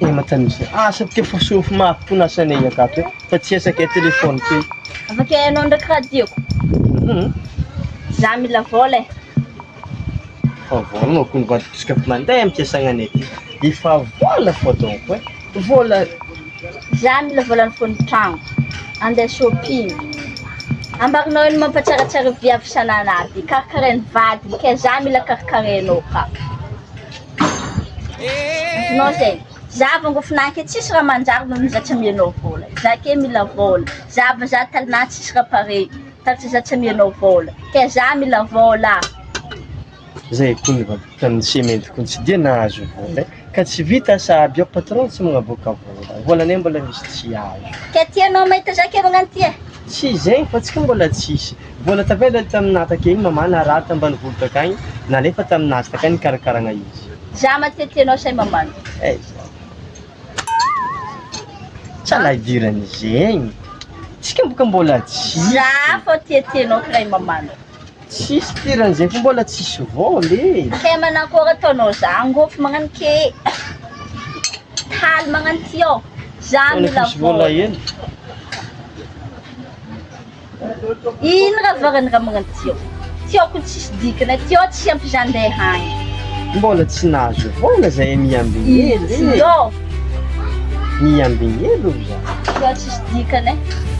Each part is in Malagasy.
Eh maka ny misy. Ah, sady ke fosofo mafy fona asana eny akato e. Fa tsy esaka e telefony ty. Afaka ianao ndraiky raha diako. Mhm. Za mila vola e. Fa vola no kony vadiko tsika fa mandeha amin'ny fiasagnanay ty. Efa vola fo donc e. Vola Za mila vola ny fony tragno. Andeha shopping. Ambarinao eny mampatsaratsara viavy sanana aby. Karakarain'ny vadiny kay za mila karakarainao ka. Azonao zay. Za vongo fnake tsisy raha manjary noho ny za tsy amianao vola. Za ke mila vola. Za vaza talina tsisy raha pareil. Taratry za tsy amianao vola. Ke za mila vola. Zay koa ny vakokan'ny cement koa tsy dia nahazo vola eh. Ka tsy vita asa aby ao patron tsy magnaboaka vola. Vola anay mbola misy tsy azo. Ke tianao mahita za ke magnano ty eh. Tsy zegny fa tsika mbola tsisy. Mbola tavela tamin'ny naha takeo ny mama narary tambanivolo takany nalefa tamin'ny nahazo takay nikarakaragna izy. Za matetiteny ao say mamangy. Aiza. Sa la idirany zegny? Tsika boka mbola tsisy. Za fô tia tenao kiray mamangy. Tsisy idirany zegny fa mbola tsisy vôla e. Kay manakôry ataonao za angôfo magnano ke taly magnano ty ao za mila vôla. Iny ravaran'i Ramaranjio, tsy ao koa tsisy dikany, tsy ao tsisy ampizan'ilay hany. Mbola tsy nahazo vola izay miambinely e! Tsy ao. Miambinely hoy za. Tsy ao tsisy dikany,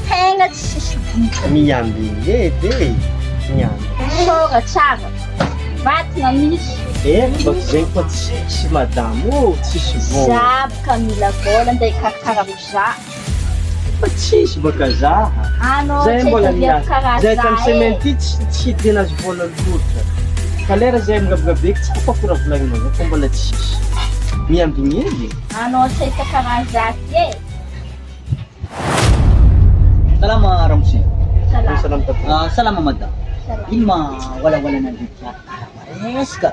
tegna tsisy dikany. Miambinely e! Miambinely. Sora tsara, vatagna misy. Eh, mba zay koa tsisy madamo ô, tsisy vola. Za boka mila vola ndeha hikarakara visa. Fa tsisy baka zaha. Ano Zay tsy mbola miasa. karaza Zay tam semaine ty tsy tsy tena azo vola loatra. Fa lera zay migabigabeko tsy hafa kora volagninao zay fa mbola tsisy. Miambignegy e. Ano tsy hita karaza ty e. Salama ramose. Salama. Salama madama. Salama. Ino ma walawalanareo ty ato? Resaka.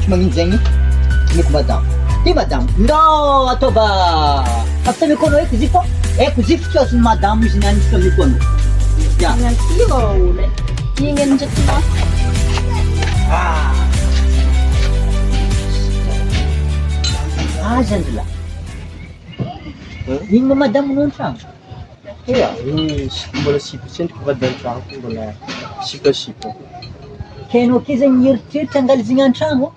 Tsy magnino zegny Dineiko madamo Ty madamo Ndô ataova Ampitahaiko anao eky izy io fa Haiko izy io fa tsy azon'i madamo izy niany Ampitahaiko anao Ya Merci Raoul e Igny anie ndraiky Ah Aza ndry lahy Inona madamo no an-tragno? Eny a! Ny sipa mbola sipa tsy endriko fa dia ny tragnoko mbola sipasipa. Hainao akia zay mieritreritra hangalizigna an-tragno a!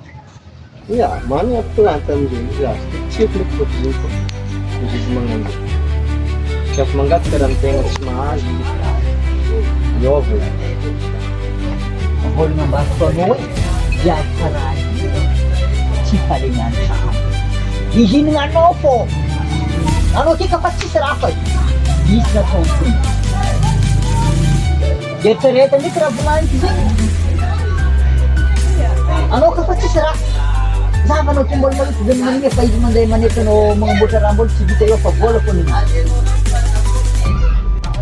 Ia, managna plan tamin'ireny za fa tsy haiko ndraiky fa toy izao koa mizidy magnano zay. Tsy afaka mangataka raha ny tegna tsy mahazo, miôva e! Vôlagna ambavako anao e! Miady fara aligna tsy falen antrano hihinagna anao fô anao ty ka fa tsisy raha fa misy nataony teo eritrereto ndreky raha volagniko zegny anao ka fa tsisy raha za fa anao ty mbôla mahita zegny magnino efa izy mandeha maneky anao magnamboatra raha mbôla tsy vita eo fa vôla fô nignahy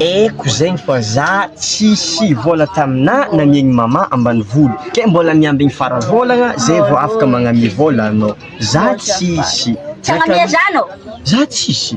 Eko zegny fa za tsisy vola taminà namiegny mamà ambanivolo ke mbola miambigny fara volagna zay vao afaka magnamia vola anao za tsisy za tsisy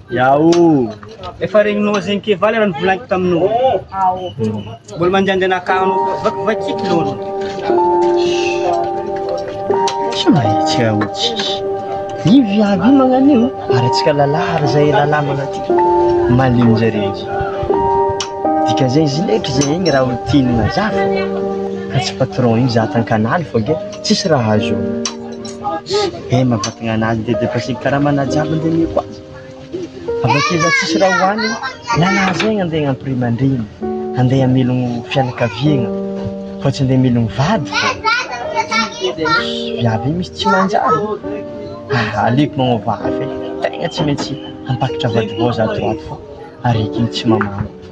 Yao! Efa regninao zegny ke va le raha nivolagniko taminao? Ao. Mbola mandiandiana akagny anao koa, vakivakiako leo anao. Tsy mahitsy aho tsisy. Io viavy io magnano io, ary antsika lalah ary zay lalah magnaty. Malemy zare izy. Dikan'izay izy letra zay igny raha ho tian'igny za fa. Ka tsy patron igny za tan-kanaly fô ge tsisy raha azo. He mahavantagna an'azy nde de pasiky karama an'azy jiaby nde meko azy, avakeo za tsisy raha hoany na anah zegny ande agnampo ray aman-dreny ande hamelogno fianakaviagna fa tsy ande hamelogno vady fa viavy misy tsy manjary ah aleoko magnova hafa e, tegna tsy maintsy hampakatra vady vao za toato fa araiky igny tsy mamangy.